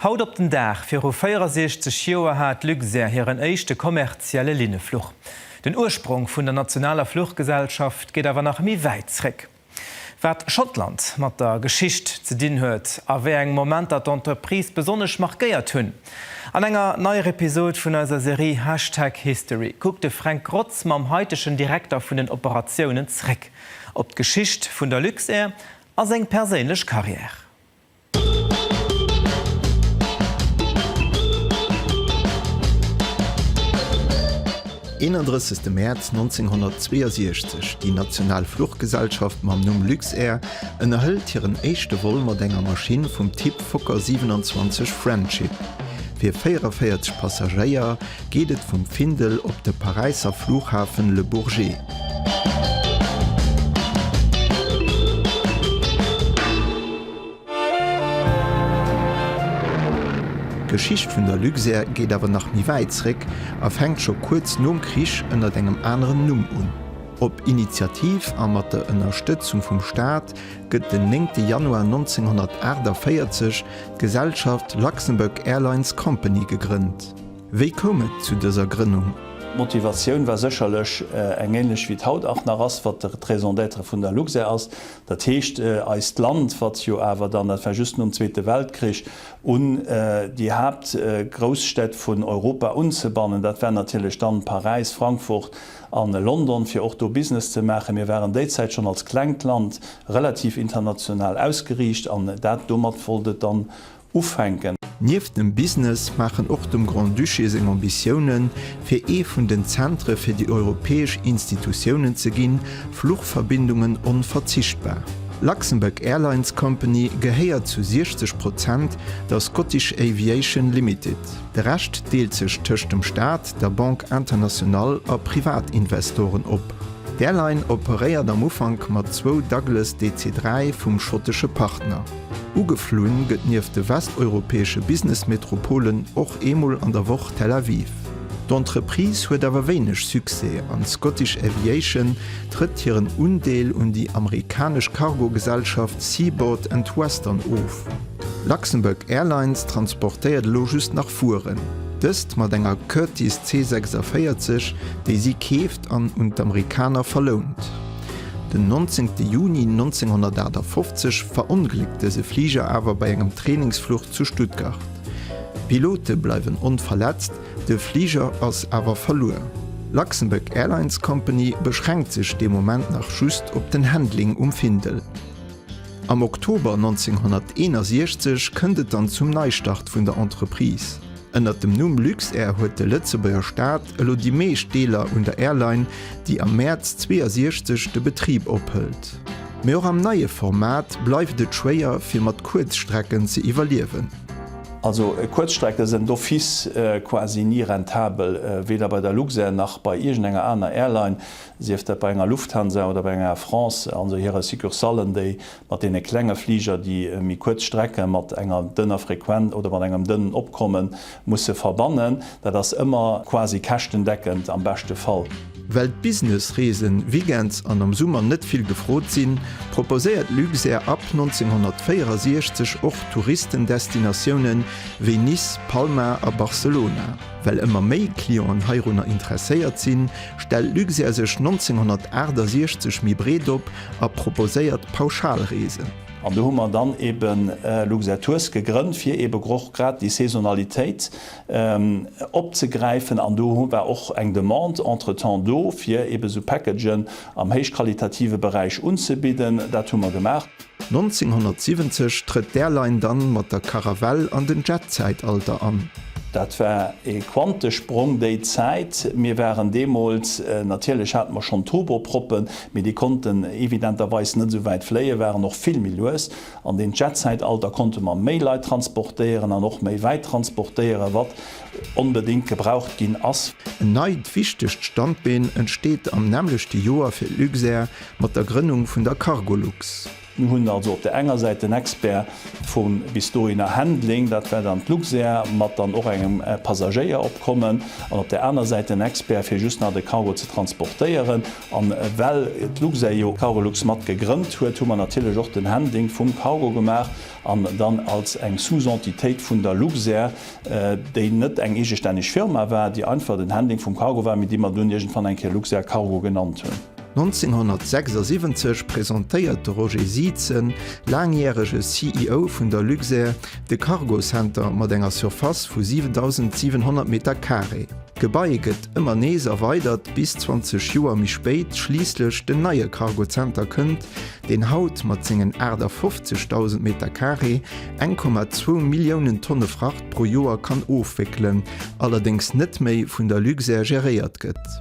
Haut op den Dag viru 64 Joer hat Luxair hiren éischte kommerzielle Linnefluch. Den Ursprong vun der nationaler Fluchgesellschaft geet awer nach méi wäit zréck. Wat Schottland mat der Geschicht ze dinn huet a wéi eng Momenter d'Entreprise besonnesch markéiert hunn. An enger neier Episod vun eiser Serie Hashtag History kuckt de Fränk Grotz mam haitegen Direkter vun den Operatiounen zréck op d'Geschicht vun der Luxair a seng perséinlech Carrière. 31 Mäerz 1962, Déi national Fluchgesellschaft mam Numm Luxair ënnerhëlt hiren éischte Vol mat enger Maschinn vum Typ Fokker 27 Friendship. Fir 44 Passagéier geet et vum Findel op de Paräisser Fluchhafen Le Bourget. D'Geschicht vun der Luxair geet awer nach méi wäit zréck a fänkt scho kuerz nom Krich ënnert engem aneren Numm un. Op Initiativ a mat der Ënnerstëtzung vum Staat gëtt den 9 Januar 1948 d'Gesellschaft Luxembourg Airlines Company gegrënnt. Wéi koum et zu dëser Grënnung? D'Motivatioun war sécherlech eng änlech wéi et haut och nach ass, wat d'Raison d'être vun der Luxair ass, Dat heescht, eist Land, wat jo awer dann, dat war just nom Zweete Weltkrich, un déi Haaptgrousstätt vun Europa unzebannen, dat war natierlech dann Paräis, Frankfurt a London, fir och do Business ze maachen. Mir waren déi Zäit schonn als klengt Land relativ international ausgeriicht an dat domat wollt et dann ufänken. Nieft dem Business maachen och dem Grand-Duché seng Ambitiounen, fir ee vun den Zentre fir déi europäesch Institutiounen ze ginn, Fluchverbindungen onverzichtbar. Luxembourg Airlines Company gehéiert zu 60 Prozent der Scottish Aviation Limited. De Rescht deelt sech tëscht dem Staat, der Banque Internationale a Privatinvestoren op. D'Airline operéiert am Ufank mat zwou Douglas DC-3 vum schottesche Partner. Ugeflunn gëtt nieft de westeuropäesche Business-Metropolen och eemol an der Woch Tel Aviv. D'Entreprise huet awer wéineg Succès an d'Scottish Aviation trëtt hiren Undeel un déi amerikanesch Cargo-Gesellschaft Seaboard and Western of. Luxembourg Airlines transportéiert elo just nach Vueren, dëst mat enger Curtiss C46, déi si keeft, an un d'Amerikaner verlount. Den 19 Juni 1958 verongléckt dëse Fliger awer bei engem Trainingsfluch zu Stuttgart. D'Pilote bleiwen onverletzt, de Fliger ass awer verluer. D'Luxembourg Airlines Company beschränkt sech dee Moment nach just op den Handling um Findel. Am Oktober 1961 kënnt et dann zum Neistart vun der Entreprise. Ënnert dem Numm Luxair huet de Lëtzebuerger Staat elo déi meescht Deeler un der Airline, déi am Mäerz 62 de Betrib ophëlt. Mee och am neie Format bleift et schwéier fir mat Kuerzstrecken ze iwwerliewen. Also Kuerzstrecke sënn d'office quasi ni rentabel, weder bei der Luxair nach bei iergendenger aner Airline, sief dat bei enger Lufthansa oder bei enger Air France, also hire Succursallen, déi mat deene klenge Fliger, déi méi kuerz Strecke mat enger dënner Frequen oder mat engem dënnen Opkomme musse verbannen, dat ass ëmmer quasi käschtendeckend am beschte Fall. Well d'Business-Reesen weekends an am Summer net vill gefrot sinn, proposéiert Luxair ab 1964 och Touristendestinatiounen wéi Nice, Palma a Barcelona. Well ëmmer méi Clienten heirunner interesséiert sinn, stellt Luxair sech 1968 méi breet op a proposéiert Pauschalreesen. An do hu mer dann eebe Luxair-Tours gegrënnt, fir eebe och grad déi Saisonalitéit opzegräifen. An do war och eng Demande entretemps do, fir eebe esou Packagen am héichqualitative Beräich unzebidden. Dat hu mer gemaach. 1970 trëtt d'Airline dann mat der Caravelle an den Jet-Zäitalter an. Dat war ee Quantesprong déi Zäit. Mir waren deemools, natierlech hate mer schonn Turboproppen, Mee déi konnten evidenterweis net esou wäit fléien, waren och vill méi lues. An deem Jet-Zäitalter konnte mer méi Leit transportéieren an och méi wäit transportéieren, wat onbedéngt gebraucht ginn ass. En neit wichtegt Standbeen entsteet am nämmlechte Joer fir Luxair mat der Grënnung vun der Cargolux. Mir hunn also op der enger Säit den Expert vum bis dohinner Handling, dat war dann d'Luxair mat dann och engem Passagéieropkommen, an op der aner Säit den Expert fir just nach de Cargo ze transportéieren. An well d'Luxair jo Cargolux mat gegrënnt huet, hu mer natierlech och den Handling vum Cargo gemaach an dann als eng Sous-Entitéit vun der Luxair, déi net eng eegestänneg Firma war, déi einfach den Handling vum Cargo war, mee déi mer dunn iergendwann eng Kéier Luxair Cargo genannt hunn. 1976 presentéiert de Roger Sietzen, laangjärege CEO vun der Luxair, de Cargo Center mat enger Surface vu 7.700 Meter Carré. D'Gebai gëtt ëmmer nees erweidert, bis 20 Joer méi spéit schliisslech den neie Cargo Center kënnt, deen haut mat sengen 58.000 Meter Carré 1,2 Milliounen Tonne Fracht pro Joer kann ofwéckelen, allerdéngs net méi vun der Luxair geréiert gëtt.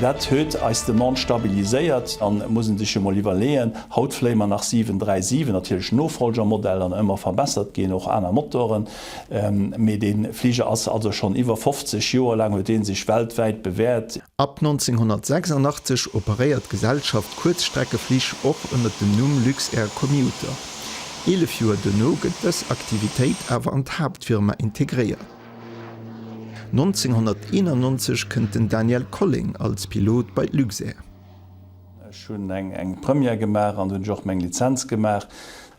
Dat huet eis Demande stabiliséiert an et muss ee sech jo mol iwwerleeën, haut fléie mer nach 737, natierlech Nofolgermodell an ëmmer verbessert ginn, och aner Motoren, mee dee Fliger ass also schonn iwwer 50 Joer laang huet dee sech weltwäit bewäert. Ab 1986 operéiert d'Gesellschaft Kuerzstreckeflich och ënner dem Numm Luxair Commuter. Eelef Joer duerno gëtt dës Aktivitéit awer an d'Haaptfirma integréiert. 1991 kënnt den Daniel Colling als Pilot bei d'Luxair. Ech hunn eng Première gemaach an do hunn ech och meng Lizenz gemaach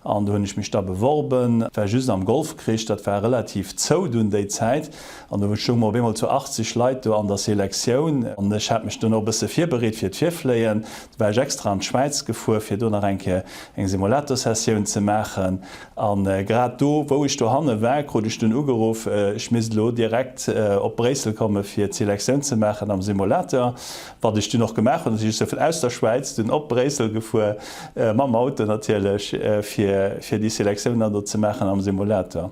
an do hunn ech mech da beworben. Et war just am Golfkrich, dat war relativ zou dunn déi Zäit an do stounge mer op eemol zu 80 Leit do an der Selektioun an ech hat mech dunn och e bësse virbereet fir d'Virfléien. Du war ech extra an d'Schwäiz gefuer fir do nach eng Kéier eng Simulator-Sessioun ze maachen. A grad do, wou ech dohanne war, krut ech dunn ugeruff, ech misst elo direkt op Bréissel komme fir d'Selektioun ze maachen am Simulator, wat ech dunn och gemaach hunn. Ech si vun aus der Schwäiz dunn op Bréissel gefuer, mam Auto natierlech, fir déi Selektioun dann do ze maachen am Simulator.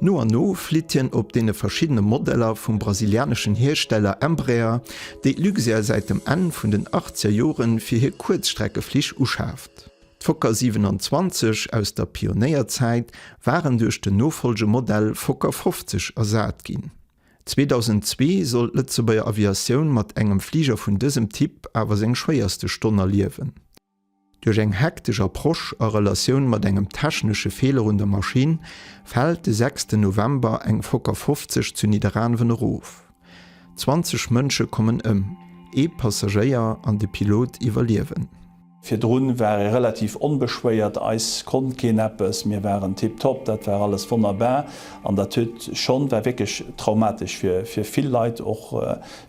No an no flitt hien op deene verschiddene Modeller vum brasilianeschen Hiersteller Embraer, déi d'Luxair säit dem Enn vun den Achtzegerjoren fir hir Kuerzstreckeflich uschaaft. D'Fokker 27 aus der Pionéierzäit waren duerch den Nofolgemodell Fokker 50 ersat ginn. 2002 sollt d'Lëtzebuerger Aviatioun mat engem Fliger vun dësem Typ awer seng schwéierste Stonn erliewen. Duerch eng hektesch Approche a Relatioun mat engem technesche Feeler un der Maschinn fält de sechsten November eng Fokker 50 zu Nidderaanwen erof. 20 Mënsche kommen ëm, ee Passagéier an de Pilot iwwerliewen. Virdrun war ee relativ onbeschwéiert, eis konnt keen eppes, mir waren tiptop, dat war alles wonnerbar an dat huet schonn, war wierklech traumatesch fir fir vill Leit, och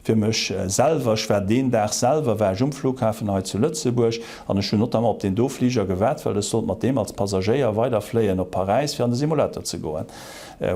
fir mech selwer. Ech war deen Dag selwer war ech um Flughafen hei zu Lëtzebuerg an ech hunn notamment op deen do Fliger gewaart, well ech sollt mat deem als Passagéier weiderfléien op Paräis fir an de Simulator ze goen.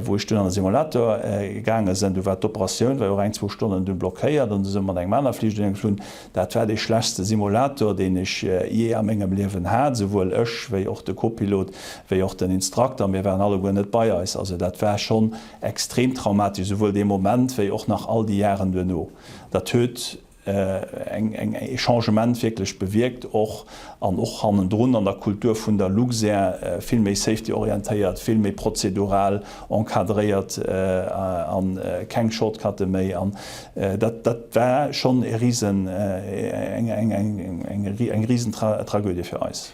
Wou ech dunn an de Simulator gaange sinn, du war d'Operatioun war jo reng zwou Stonnen dunn blockéiert an du sinn mer mat engem aner Fliger dunn geflunn. Dat war dee schlechste Simulator, deen ech jee a mengem Liewen hat. Souwuel ech wéi och de Kopilot wéi och den Instrukter, mir waren alleguer net bei eis. Also dat war schonn extrem traumatesch, souwuel dee Moment wéi och nach all déi Jaren duerno. Dat huet eng e Changement wierklech bewierkt och an och hannendrun an der Kultur vun der Luxair, vill méi safety-orientéiert, vill méi prozedural. encadréiert a keng Shortcutte méi an dat dat war schonn e risen eng risen Tragödie fir eis.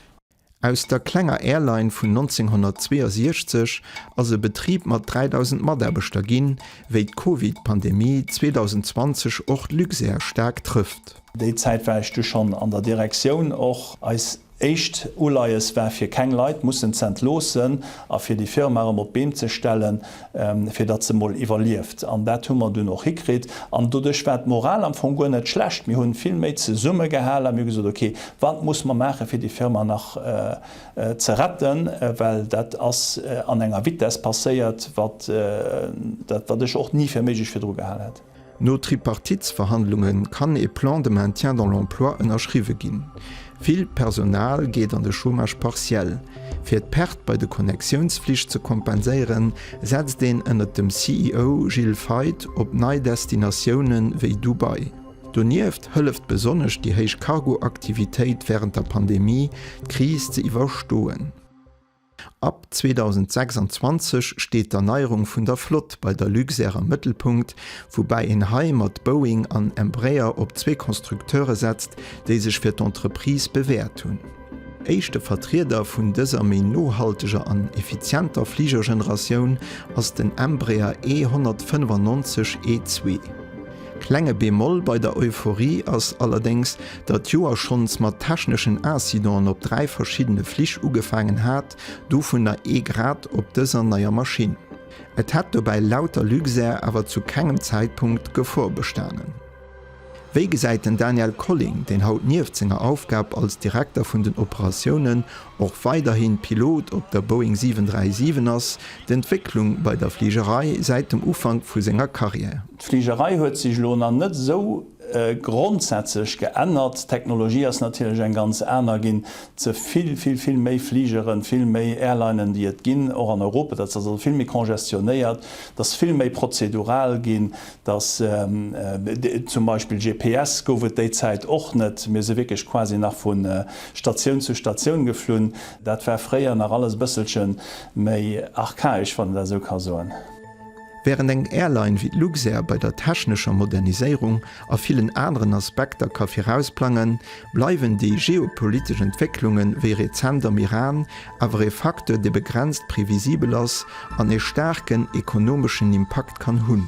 Aus der klenger Airline vun 1962 ass e Betrib mat 3.000 Mataarbechter ginn, wéi d'Covid Pandemie 2020 och d'Luxair staark trëfft. Déi Zäit war ech du schonn an der Direktioun och. Eis Éischt Uleies war fir keng Leit mussen z'entloossen a fir déi Firma erëm op d'Been ze stellen, fir datt se mol iwwerlieft. An dat hu mer dunn och hikritt. An doduerch war d'Moral am Fong guer net schlecht. Mir hunn vill méi zesumme gehalen a mir hu gesot, ok, wat muss mer maachen, fir déi Firma nach ze retten, well dat ass an enger Vitesse passéiert, wat ech och ni fir méiglech virdru gehal hätt. No Tripartitsverhandlunge kann e Plan de maintien dans l'emploi ënnerschriwwe ginn. Vill Personal geet an de Chômage partiel. Fir d'Pert bei de Connectiounsflich ze kompenséieren, setzt een ënnert dem CEO Gilles Feith op nei Destinatioune wéi Dubai. Donieft hëlleft besonnesch déi héich Cargo-Aktivitéit wärend der Pandemie, d'Kris ze iwwerstoen. Ab 2026 steet d'Erneierung vun der Flott bei der Luxair am Mëttelpunkt, woubäi een hei mat Boeing an Embraer op zwee Constructeure setzt, déi sech fir d'Entreprise bewäert hunn. Éischte Vertrieder vun dëser méi nohalteger an effizienter Fligergeneratioun ass den Embraer E195 E2. Klenge Bémol bei der Euphorie ass allerdéngs, datt d'Joer schonns mat techneschen Incidenten op dräi verschiddene Flich ugefaangen hat, dovunner ee grad op dëser neier Maschinn. Et hätt dobäi laut der Luxair awer zu kengem Zäitpunkt Gefor bestanen. Wéi gesäit den Daniel Colling, deen haut nieft senger Aufgab als Direkter vun den Operatiounen och weiderhi Pilot op der Boeing 737 ass, d'Entwécklung bei der Fligerei säit dem Ufank vu senger Karriär? D'Fligerei huet sech elo nach net esou grondsätzlech geännert. D'Technologie ass natierlech eng ganz aner ginn. Ze vill, vill, vill méi Fligeren, vill méi Airlinen, déi et ginn, och an Europa. Dat ass also vill méi congestionnéiert. Et ass vill méi prozedural ginn. Dass zum Beispill GPS gouf et déi Zäit och net. Mir si wierklech quasi nach vu Statioun zu Statioun geflunn. Dat war fréier nach alles e bësselche méi archaesch, wann een dat esou ka soen. Wärend eng Airline wéi d'Luxair bei der technescher Moderniséierung a villen aneren Aspekter ka virausplangen, bleiwen déi geopolitesch Entwécklunge wéi rezent am Iran awer ee Facteur, dee begrenzt previsibel ass an ee staarken ekonomeschen Impakt kann hunn.